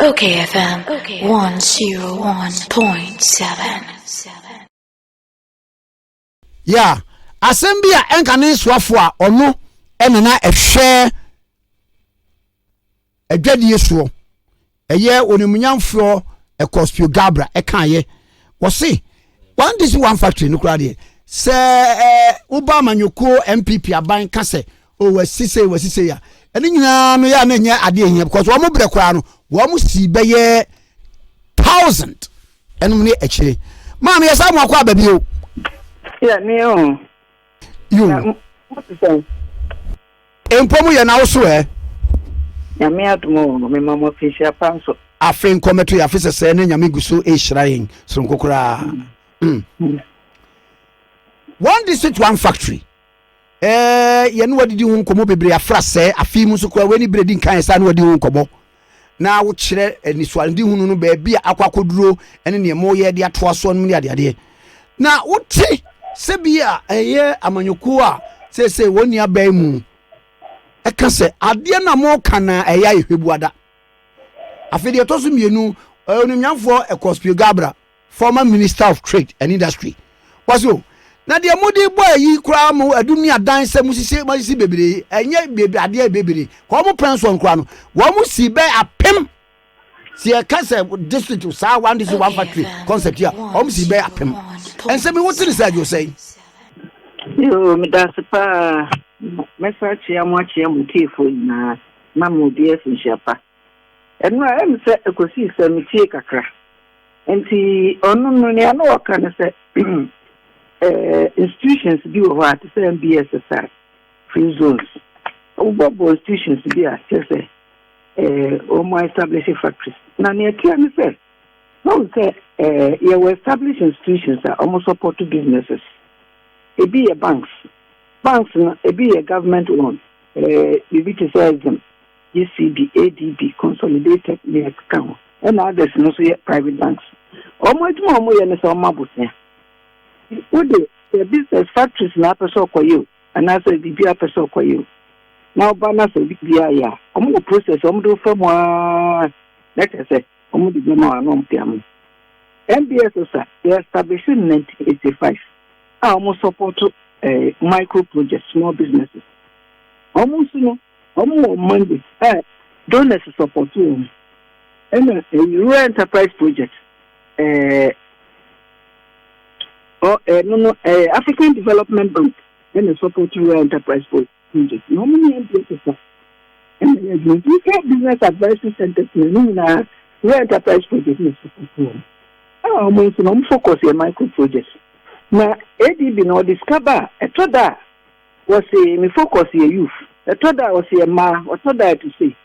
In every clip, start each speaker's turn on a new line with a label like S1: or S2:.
S1: Okay
S2: FM 101.7. Yeah, asɛm bi a ɛnka ne nsoafo a ɔno ɛna na ɛhwɛ adwadie soɔ ɛyɛ onimunyamfoɔ ɛkɔspio gabra ɛkaayɛ wɔse one dish one factory no koraa deɛ sɛ ɛɛ woba amanyɔkuo npp aban ka sɛ o wasi sei wasi sei a ɛno nyinaa no yɛ a na ɛnyɛ adeɛ hia because wɔn mo brɛ koraa no wɔn mo si bɛyɛ thousand ɛnom ne akyire maame yɛ saa mo akɔ aba bi o. yɛ ne
S3: o. yo
S2: mpo mu yɛ n'awoso ɛ. nyame
S3: adum o mema mo afinhyia pa nso. afei nkɔmɛto yɛ
S2: afe sɛsɛ ne nyame gu so ehyira yɛn soronko koraa. Mm. Mm. one district one factory. ɛɛ yɛne wadidi ho nkɔmmɔ bebree afra sɛɛ afei mu nso koraa wei ne berɛ di nkan ɛsɛ a ne wadi ho nkɔmmɔ na wokyerɛ anisoade hunu no baabi a akɔ akɔduro ne neɛ moyɛ de atoa soɔ nom ne adeadeɛ na wote sɛ bi a ɛyɛ amanyɔkuo a seesei wɔn ni abɛn mu ɛka sɛ adeɛ no a moka na ɛyɛ ayɛhwɛ buada afei deɛ ɛtɔ so mmienu onimnyamfoɔ ɛkɔspio gabra former minister of trade and industry was o na deɛ mo de bɔ ayi koraa mo adum ne adan sɛ mo sisi mo sisi bebree ɛnyɛ bebree adeɛ bebree kɔn mo pɛn soɔ koraa no wɔn mo si bɛ apem si ɛka sɛ district saa one district one factory concept a wɔn mo si bɛ apem ɛnsɛm yi wote ne sɛ adwo sɛn.
S3: yoo medase paa mɛsa akyea mo akyea mo tiefo nyinaa na mo odi afinhyia pa. Ɛno a, ɛne sɛ ɛkɔsii sɛ metiee kakra. Enti ɔno no, nea na ɔka ne sɛ, institutions bi wɔ hɔ a, te sɛ MBS sa free zones. Wobɔbɔ institutions bi a, kyerɛ sɛ wɔn establish factories. Na nea ɛteɛ ne sɛ, wɔn sɛ yɛwɔ establish institutions a wɔn support businesses. Ebi yɛ banks. Banks no, ebi yɛ government owned, biribi te sɛ Exim. JCB, ADB, Consolidated ne ɛkeka ho. Ɛna others no nso yɛ private banks. Wɔn adwuma a wɔyɛ ne sɛ wɔma bosea. Wo de, sɛ business, factories na apɛ sɛ ɔkɔyɛ o, anaasɛ biribi a apɛ sɛ ɔkɔyɛ o, na ɔba na sɛ biribi ayɛ a, wɔn wɔ process a wɔn de wo fa mu ara na kyerɛ sɛ wɔn de bɛma wɔn na wɔn de ama wo. MBSS a yɛ establish in 1985 a wɔn support eh, micro projects, small businesses. Wɔn nso no, Ɔmo wɔ Monday a donors sɔpɔto wɔn ɛna Rural Enterprise Project ɛɛ ɔ ɛno no ɛɛ African Development Bank ɛna sɔpɔto Rural Enterprise Project na ɔmo ne MPA kasa ɛna yɛ adwuma nti sɛ Business Advisory Centers na ne nyinaa Rural Enterprise Project na sɔpɔto wɔn ɛna ɔmo nso na ɔmo focus yɛ micro projects na ADB na ɔde sika ba a ɛtɔ da a Wɔse me focus yɛ youth. Ɛtɔ da a wɔse yɛ mmaa, ɔtɔ da a ɛte sei.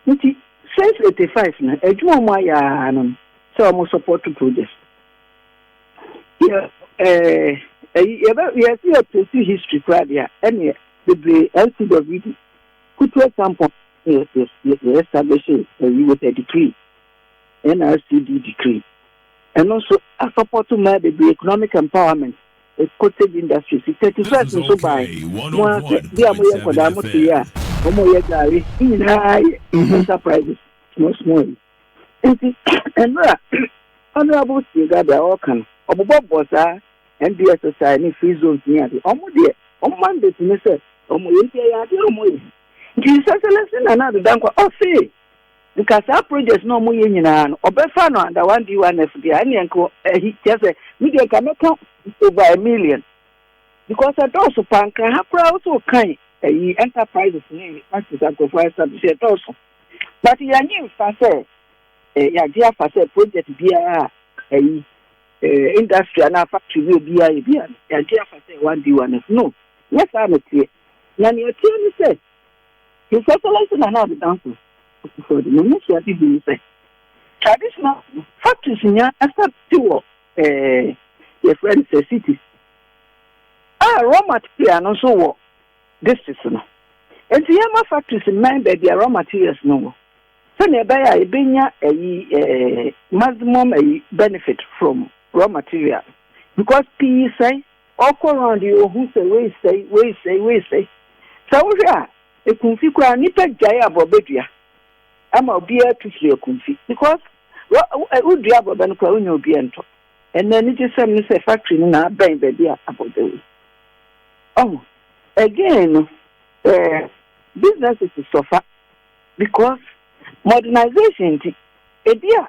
S3: Nti since eighty five no, adwuma a wɔayɛ ara ne no sɛ wɔn support project. Yɛ eh, ayi, yɛbɛ, yɛse yɛ trace history koraa deɛ a, ɛneɛ bebree NCWD, Kutu Acheampong, yɛ, yɛ, yɛ, yɛ establish ayi with a decree, NRCD decree. Ɛno nso, a support mmaa bebree, economic empowerment. cottage industry fi thirty first nso bae mo a sɛ bi a moyɛ nkɔdaa mo te yɛ a wɔn yɛ gari ne nyinaa yɛ mhm. enterprises small small yi nti mmerɛ honourable siegada a ɔka no ɔbobɔbɔ saa nbssi ne free zones ne ade wɔn deɛ wɔn mandate ne sɛ wɔn yɛ nti ɛyɛ adeɛ wɔn yɛ nti sɛsɛlɛsɛ nana adeda nkwa ɔsee nka saa project na ɔmo yɛ nyinaa no ɔbɛ fa no under one D one F deɛ ɛneɛ nka ɛhi kyɛ sɛ mi deɛ nka mɛka over a million because ɛdɔɔso paa nka ha koraa woso kan ɛyi enterprises ne factories ankorofo establish ɛdɔɔso but yɛnyi nfa sɛ ɛ yagye afa sɛ project biara ɛyi ɛ industry anaa factory bi obiara yɛ biara yagye afa sɛ one D one F no nyɛ saa na teɛ na nea ɛteɛ ne sɛ. His Excellency Nana Addo Dankwa Akufo-Addo na n'asuade bi ne sɛ, traditional factories nya ɛsɛ te wɔ ɛɛ yɛfrɛ no sɛ cities a raw material no nso wɔ districts no. Enti yɛma factories mmɛn baabi a raw materials no wɔ sɛnea ɛbɛyɛ a yɛbɛnya ɛyi ɛɛ maximum ɛyi benefit from raw material because pii sɛe. Ɔkɔ round yi ohu sɛ wei sɛe, wei sɛe, wei sɛe. Sɛ wohwɛ a, Akumfi koraa nnipa gyae aborɔbɛ dua ma obiara tu firi Akumfi because wodua aborɔbɛ no koraa wonya obiara ntɔ. Ɛnna anigyesɛm ne sɛ factory no na abɛn baabi a aborɔbɛ wɔ. Ɔho. Again no, eh, businesses suffer because modernisation nti, ebia.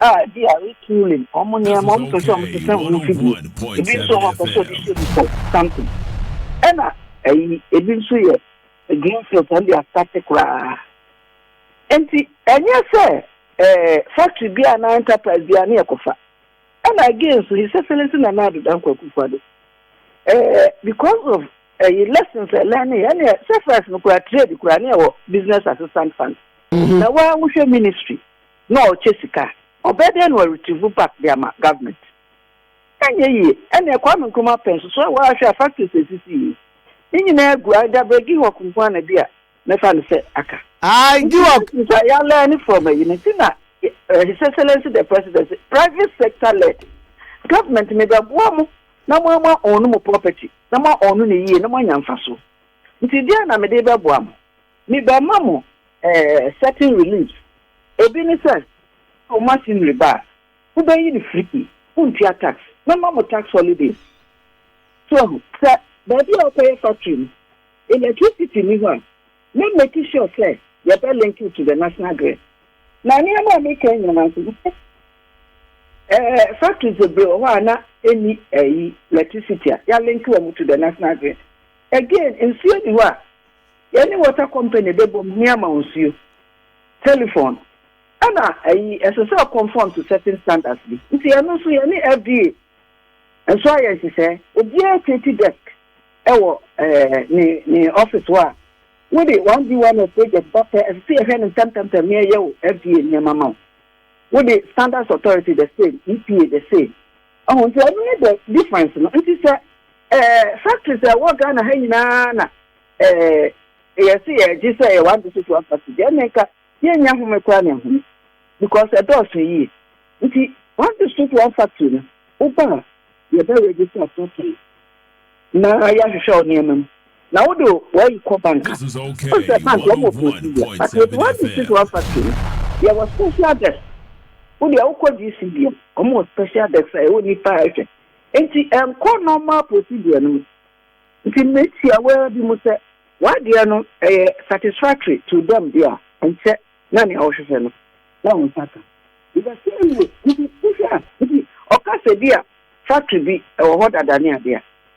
S3: a ebia retooling wɔn nneɛma, wɔn pɛ sɛ wɔn sesa wɔn mfidie, ebi nso wɔn pɛ sɛ wɔde hyɛ mu for something. Ɛna ɛyi ebi nso yɛ green field wɔn de asate koraa. Nti ɛnyɛ sɛ ɛɛ eh, factory bi a na enterprise bi a ne yɛ kɔfa. Ɛna again nso his excellence na na adoda nkwakufa do. Ɛɛ eh, because of ɛyi lessons ɛlɛn ne yɛ ne yɛ sɛ first no kura trade kura ne yɛ wɔ business assistant fund. Mm-hmm. Na wa wohwɛ ministry. na ɔrekyɛ sika a, ɔbɛyɛ dɛn na waretrieve back de ama government? Ɛnyɛ yie. Ɛnneɛ Kwame Nkrumah pɛ nso so a woahwɛ a factories a ɛsisi yi, ne nyinaa gu either Brɛ Gihɔk nko ara na bi a mɛfa no sɛ aka. Aye Gihɔk. Nti sɛ yɛa learn from ayi no nti na His Excellency the President se private sector led. Government me bɛboa mo na mo ama own mo property na mo a own no yie na moanya mfasoɔ. Nti deɛn na mede rebɛboa mo? Me ba ma mo eh certain relief Obi ne sɛ wo machinery ba a wo bɛ yi no free wo ntua tax Mɛ ma mo tax holidays So ahu sɛ baabi a wo kɔ yɛ factory no electricity nni hɔ a Mɛ make sure sɛ yɛ bɛ link wo to the national grid Na nneɛma a me ka yi nyinaa nso wo bɛ eh factories bebree wɔ hɔ a na ɛnni eh yi electricity a yɛ link wɔn to the national grid Again nsuo nni hɔ a. yɛne water company bɛbom ne ama wo nsuo, telephone, ɛna ayi ɛsɛ sɛ conform to certain standards bi nti ɛno nso yɛne FDA nso ayɛ nhyehyɛɛ obiara create desk ɛwɔ ɛɛ ne ne office hɔ a wode one D one F project ba pɛ ɛsɛ sɛ yɛhwɛ no ntɛmtɛmtɛm ne ɛyɛ wo FDA nneɛma ma wo wode standards authority the same EPA the same Wahu? Nti ɔno ne the difference no. Nti sɛ ɛɛ factories a ɛwɔ Ghana ha nyinaa na ɛɛ yɛsi yɛgye sɛ ɛyɛ one district one factory deɛ ɛna nka yɛnya home koraa na ɛhome because ɛdɔɔso yie. Nti one district one factory no woba a yɛbɛ register factory na yɛahwehwɛ wo nneɛma mu. Na wo de w'ayi kɔ bank a, wohu sɛ bank
S4: wɔn wɔ
S3: procedure, but with one machine one factory no, yɛ wɔ special desk. Wo deɛ wo kɔ GC deɛ a, wɔn wɔ special desk a ɛwɔ nipa a ɛhwɛ. Nti ɛnkɔ normal procedure no mu. Nti me tia wo ara bi mu sɛ, w'adeɛ no ɛyɛ satisfactory to them deɛ a, ɛnkyɛ na nea wo hwehwɛ no, na wo nsa ka. In the same way, nti wo hwɛ a, nti ɔka sɛ bi a factory bi ɛwɔ hɔ dada ne adeɛ a,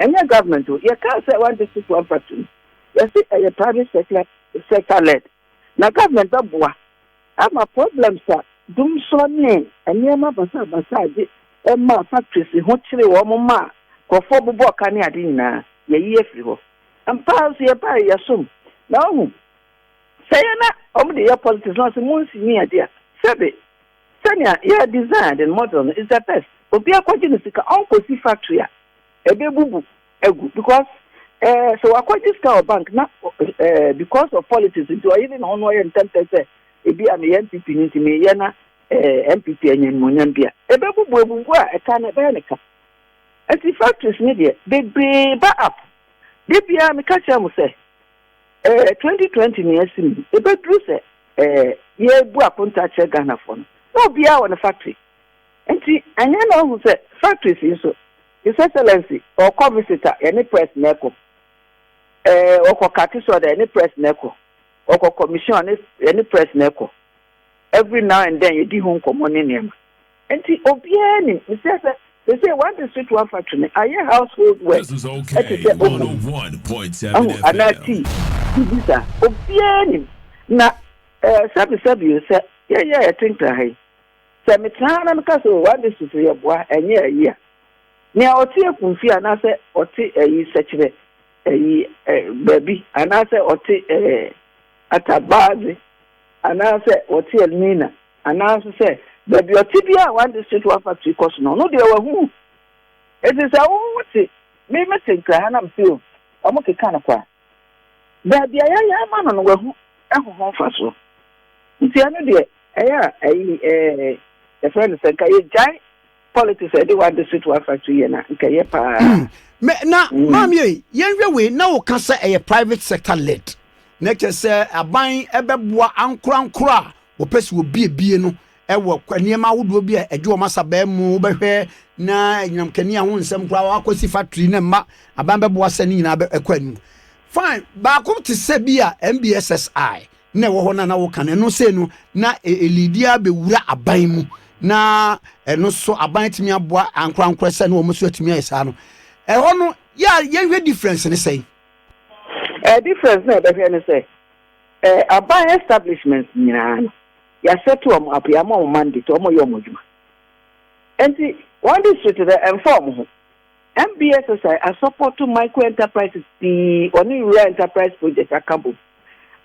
S3: Ɛnyɛ government o, yɛkaa sɛ one district one factory no, yɛse ɛyɛ private sector sector led, na government bɛboa ama problems a dumsor ne nneɛma basaa basaa de maa factories ho kyeree wɔn maa nkurɔfoɔ bobɔɔ ka ne ade nyinaa, yɛayi afiri hɔ. Ampa ara nso yɛbaeɛ yɛsom, na woahu sɛ yɛn na wɔde yɛ politics na wɔse monsi nni ade a, sɛbe. Sɛnea yɛ design den model no is the best obia kɔgye no sika ɔnkɔsi factory a ɛbɛbubu agu because eh sɛ wakɔgye sika wɔ bank na eh because of politics nti ɔyere ne ho na ɔyɛ ntɛmtɛ sɛ ebi a meyɛ npp no nti meyɛ na eh npp anya nimonyam bi a ɛbɛbubu abubu a ɛka no ɛbɛyɛ ne ka nti factories ne deɛ bebree ba up de biara meka kyerɛ mo sɛ eh, 2020 nea asi mu, ebeduru sɛ eh, yɛrebu akonta kyerɛ Ghanafoɔ no, na obiara wɔ ne factory. Nti, ɛnyɛ na ohu sɛ factories yi nso, His Excellency, ɔkɔ visit a, yɛne press na ɛkɔ. Eh, ɔkɔ kate sɔda, yɛne press na ɛkɔ. Ɔkɔ commission a, yɛne press na ɛkɔ. Every now and then, yɛdi ho nkɔmmɔ ne nneɛma. Enti obiara nim. Mesrɛ sɛ seesei one district one factory no ayɛ household word te sɛ
S4: omo, ahu, anaa tea,
S3: biribi saa. Obiara nim. Na eh, sɛbesɛbe o, sɛ yɛyɛ a yɛtentra ha yi, sɛ metra ha na meka sɛ oh, one district no yɛboa, ɛnyɛ ayi a, nea ɔte Akumfie anaasɛ ɔte ayi Sɛkyerɛ ayi eh, baabi, anaasɛ ɔte eh, Atabadze, anaasɛ ɔte Elmina, Anaa nso sɛ, baabi a ɔte biara a One District One Factory kɔ so no, ɔno deɛ wahu. Enti sɛ wo wote, me mete Nkraha na mete o, wɔkeka no kwa. Baabi a yɛayɛ ama no no, wahu ho ho mfasoɔ. Nti ɛno deɛ, ɛyɛ a, ayi, ɛɛ, yɛfrɛ no sɛ nka yɛgyae politics ɛde wade so to afa so yɛ na nka yɛ paa. Hmm. na hmm.
S2: maame yɛ yɛnhwɛ wei na woka sɛ ɛyɛ private sector led na kyɛ sɛ aban ɛbɛboa ankorankoro a wɔpɛ sɛ wɔbiebie no ɛwɔ nneɛma ahodoɔ bi a ɛgye wɔn asabaa mu wobɛhwɛ na anyinam kani ho nsɛm koraa wakɔsi factory na mma aban bɛboa sɛ ne nyinaa ɛkɔ anim fine baako te sɛ bi a mbssi na ɛwɔ hɔ na na woka no ɛno sei no na elidi abɛwura aban mu na ɛno so aban atumi aboa ankorankora sɛ ne wɔn so atumi ayɛ saa no ɛhɔ no yɛ a yɛhwɛ difference ne sɛn ɛɛ
S3: difference na ɛbɛhwɛ ne sɛ ɛɛ aban establishment nyinaa no yɛasɛte wɔn apo yɛama wɔn mandate wɔn yɛ wɔn adwuma nti wɔn district no ɛmfa wɔn ho MBSSI asɔpɔto micro enterprises pii ɔne Rural Enterprise Project aka bom.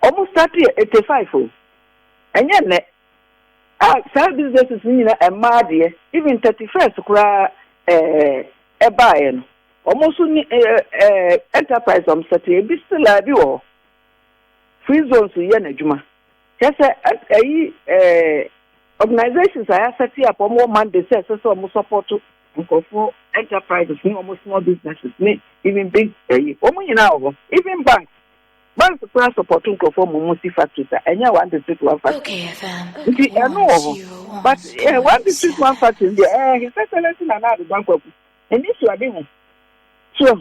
S3: Ɔmo start yɛ eighty five o, ɛnyɛ nnɛ. A saa businesses no nyina ɛmmaa deɛ, even thirty first koraa ɛɛ ɛbaeɛ no, ɔmo nso ni ɛɛ ɛɛ enterprise ɔmo start, ebi still a ebi wɔ hɔ. Free zones yɛ n'adwuma. Kyerɛ sɛ, ayi ɛɛ organisations a yɛasɛte up wɔn wɔ mandate sɛ ɛsɛ sɛ wɔn support nkurɔfoɔ enterprises ne wɔn small businesses ne even big ɛyi wɔn nyinaa wɔ hɔ even banks banks koraa support nkurɔfoɔ wɔn wɔn si factories a ɛnyɛ one district one factory nti
S1: ɛno wɔ hɔ
S3: but ɛɛ one district one factory deɛ ɛɛ his excellence na na adodo akwaku ɛni su ade ho so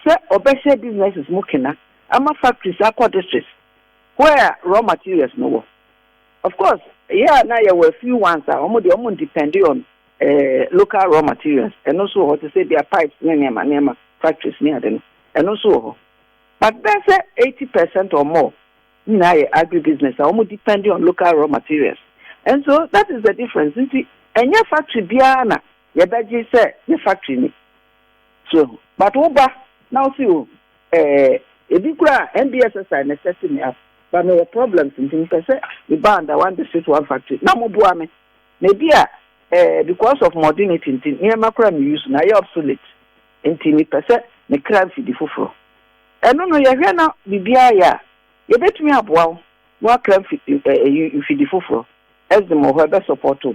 S3: sɛ ɔbɛhyɛ businesses mu kena ama factories akɔ districts. Where raw materials no wɔ? Of course yɛ a na yɛwɔ a few ones a wɔn deɛ wɔn depend on local raw materials, ɛno nso wɔ hɔ te sɛ bia pipes ne nneɛma nneɛma, factories ne ade no, ɛno nso wɔ hɔ. But bɛyɛ sɛ eighty percent or more ne nyinaa yɛ agri business a wɔn depend on local raw materials. And so that is the difference nti ɛnyɛ factory biara na yɛbɛgye sɛ ne factory ni. So but wo ba na wo se o eh ebi kura a NBSSI na sɛte me up but me wɔ problems nti me pɛ sɛ me ba under one district one factory na mo boa me na ebi a eh because of modernity nti nneɛma kura me use no ayɛ obsolete nti me pɛ sɛ me kra mfidi foforɔ ɛno no yɛhwɛ na biribiara yɛ a yɛbɛtumi aboa wo na wakra mfidi eh, eh, mfidi foforɔ ɛsdem wɔ hɔ ɛbɛ support wo.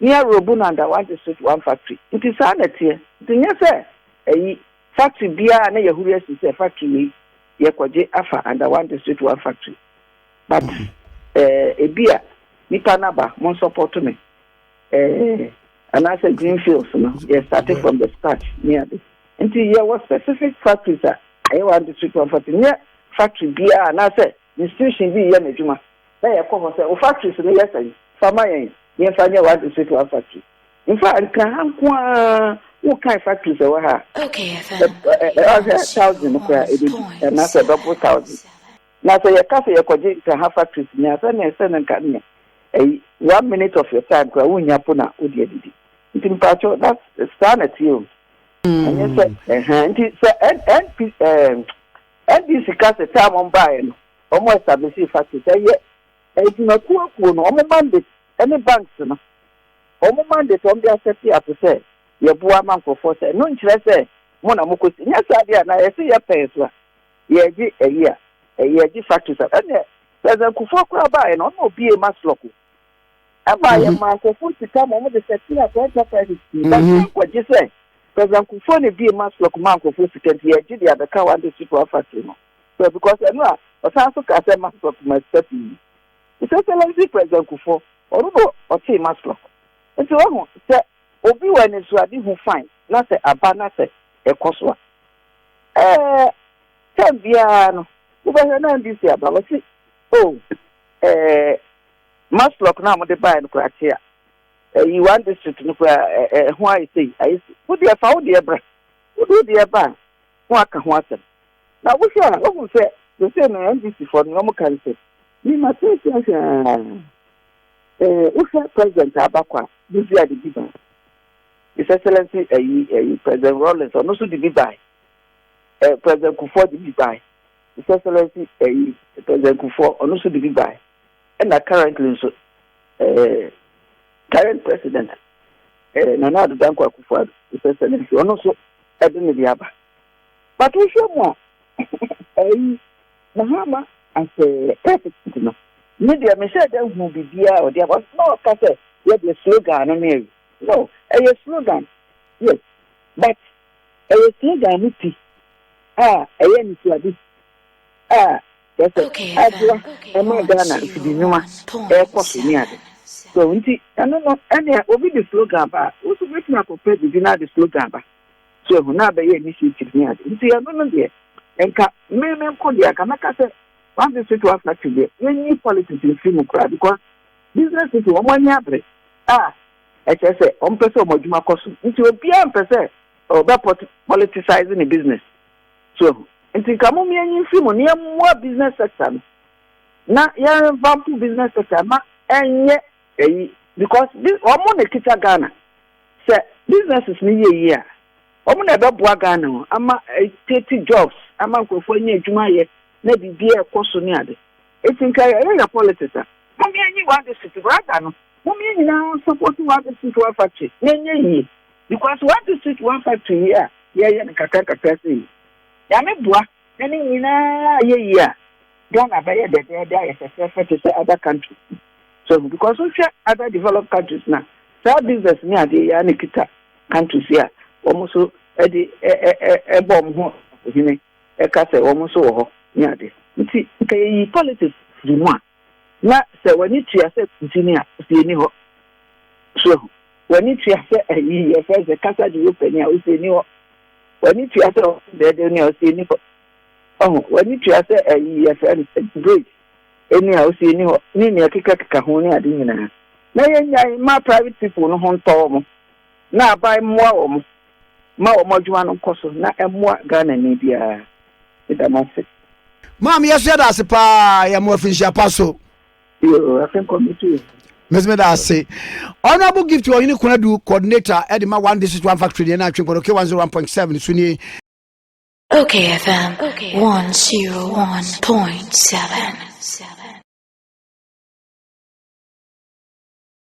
S3: ne aworobu no anda wagye so to one factory. Nti saa na ɛteɛ. Nti nyɛ sɛ ayi factory biara na yɛhuri asi sɛ factory wei yɛkɔgye afa under one district one factory but eh, ebi a nipa no aba mo nsɔpɔto me eh, anaasɛ green fields no yɛ started from the start ne ade nti yɛwɔ specific factories a ɛyɛ one district one factory nyɛ factory biara anaasɛ Institution bi reyɛ n'adwuma, na yɛkɔ hɔ sɛ, Wo factories no yɛ sɛn? Fa ma yɛn yɛmfa nyɛ w'adistrict one factory. In fact, nka ha nko ara, wokan factories a ɛwɔ ha a,
S1: bɛyɛ thousand
S3: no koraa ɛbɛdu, anaasɛ ɛbɛboro thousand. Na sɛ yɛka sɛ yɛkɔgye nka ha factories nyinaa, sɛdeɛ ɛsɛ no nka neɛ ɛyi, one minute of your time koraa wonnya mpo na wode adidi. Nti mpakyɛw, that's, saa na ɛteɛ o. Ɛnyɛ sɛ, ɛhɛn, nti sɛ NP, ɛɛm. NDC ka sɛ taa a wɔn baeɛ no, wɔn ɛstablisee factories, ɛyɛ adwumakuo akuo no, wɔn mandate ɛne banks no, wɔn mandate wɔn de asɛte ato sɛ yɛboa ama nkorɔfoɔ sɛ ɛno nkyerɛ sɛ mo na mokɔ si, nyɛ saa deɛ a na yɛse yɛpɛn so a yɛgye ɛyi a ɛyɛ gye factories a, ɛneɛ President Kufuor koraa baeɛ no ɔno na ɔbuee Maslok o. ɛmaa yɛmaa nkurɔfoɔ sika ma wɔde sɛtee Atɔeɛ Papa Anifie. Na yei nkɔgye sɛ President Kufuor na ɛbue Maslok maa nkurɔfoɔ sika nti, yɛgye de abɛka One District One Factory no. So, because ɛno a, ɔsan nso kaa sɛ Maslok maa sika pii. His Excellency President Kufuor, ɔno na ɔtee Maslok. Nti wahu, sɛ obi wɔ anisoadehu fine, na sɛ aba na sɛ ɛkɔ so a, ɛɛ, time biara no, wobɛhwɛ na NDC aba. Wɔse, oh, Ɛɛ, Maslok no a wɔde baeɛ no koraa te a. Ɛyi, one district no koraa, ɛ, ɛ, ɛho ayɛ sei, ayɛ sei. Wo deɛ, fa wo deɛ bra. Wode wo deɛ ba a, na wɔaka ho asɛm. Na wohwɛ a, wohu sɛ seesei no NDCfoɔ no, nea wɔka ne sɛ, Mema seesei ahwɛ ara, ɛɛ, wohwɛ President a aba kɔ a, Bozia de bi bae. His Excellency, ɛyi, ɛyi, President Rawlings, ɔno nso de bi bae. Ɛɛ, President Kufuor de bi bae. His Excellency ɛyi President Kufuor ɔno nso de bi bae ɛna currently nso ɛɛ current president ɛɛ Nana Addo Dankwa Akufo-Addo His Excellency ɔno nso ɛde ne de aba but wohwɛ mu a ɛyi Mahama as a president no ne deɛ mehyɛ dɛ hu biribiara ɔde aba na ɔka sɛ yɛ deɛ slogan no ne ɛyi no ɛyɛ slogan yes but Ɛyɛ slogan no ti a ɛyɛ anisoade a kyerɛ sɛ
S1: aboa ma
S3: Ghana
S1: mfidinwuma
S3: rekɔ so ne ade. So nti ɛno no ɛnea obi de slogan ba a, wo nso wobɛtumi akɔpɛ biribi na ade slogan ba. So ahu na abɛyɛ initiative ne ade. Nti ɛno no deɛ nka me me nko deɛ anka mɛka sɛ one district one factory deɛ yɛnyi politics mfiri mu koraa because business people wɔn ani abere a Ɛkyerɛ sɛ ɔmpɛ sɛ ɔmo adwuma kɔ so. Nti obiara mpɛ sɛ ɔbɛ politicize ne business. So ahu? Nti nka mom yɛnyi mfiri mu na yɛmmoa business sector no na yɛn revampo business sector no ma ɛnyɛ ayi because ɔmo na ɛkita Ghana. Sɛ businesses no yɛ yie a, ɔmo na ɛbɛboa Ghana o, ama ɛcreate jobs, ama nkorɔfoɔ anya adwuma yɛ na biribiara ɛkɔ so ne ade. Eti nka yɛyɛ yɛ politics a mom yɛnyi waa district rather no mom yɛn nyinaa nsupporti waa district waa factory na ɛnyɛ yie because waa district waa factory yi a yɛyɛ no kakra kakra sei yi Nyame boa na ne nyinaa yɛ yie a Ghana bɛyɛ dɛdɛɛdɛ ayɛ fɛfɛɛfɛ te sɛ other countries so ɛho because wohwɛ other developed countries na saa business ne adeɛ yi a na kita countries yi a wɔn nso de ɛbɔ wɔn ho ɔhene ɛka sɛ wɔn nso wɔ hɔ ne ade. Nti nka yɛyi politics firi mu a, na sɛ w'ani tua sɛ ntini a, wo se ɛnni hɔ. So ahu? W'ani tua sɛ ayi yɛfrɛ no sɛ kasa de wo panin a, wo se ɛnni hɔ. W'ani tua sɛ wɔn dɛɛdɛw ni a, wo se ɛnni hɔ. Ɔho? W'ani tua sɛ ayi yɛfrɛ no sɛ debate ni a, wo se ɛnni hɔ, ne nea ɛkekakeka ho ne ade nyinaa. Na yɛnnyae mma private people no ho ntɔ wɔn, na aban mmoa wɔn Ma wɔn adwuma no nkɔ so na ɛmmoa Ghanani biara. Meda mo ase. Maame yɛso
S2: yɛda ase paa yɛ mo afinhyia pa so. Yoo afe
S3: nkɔ mi tu. Mesi meda ase.
S2: Honorable gift wɔ hene kunadu coordinator ɛde ma one district one factory deɛ na atwe nkɔdɔ k one zero one point seven so nie.
S1: Okay FM one zero one point seven.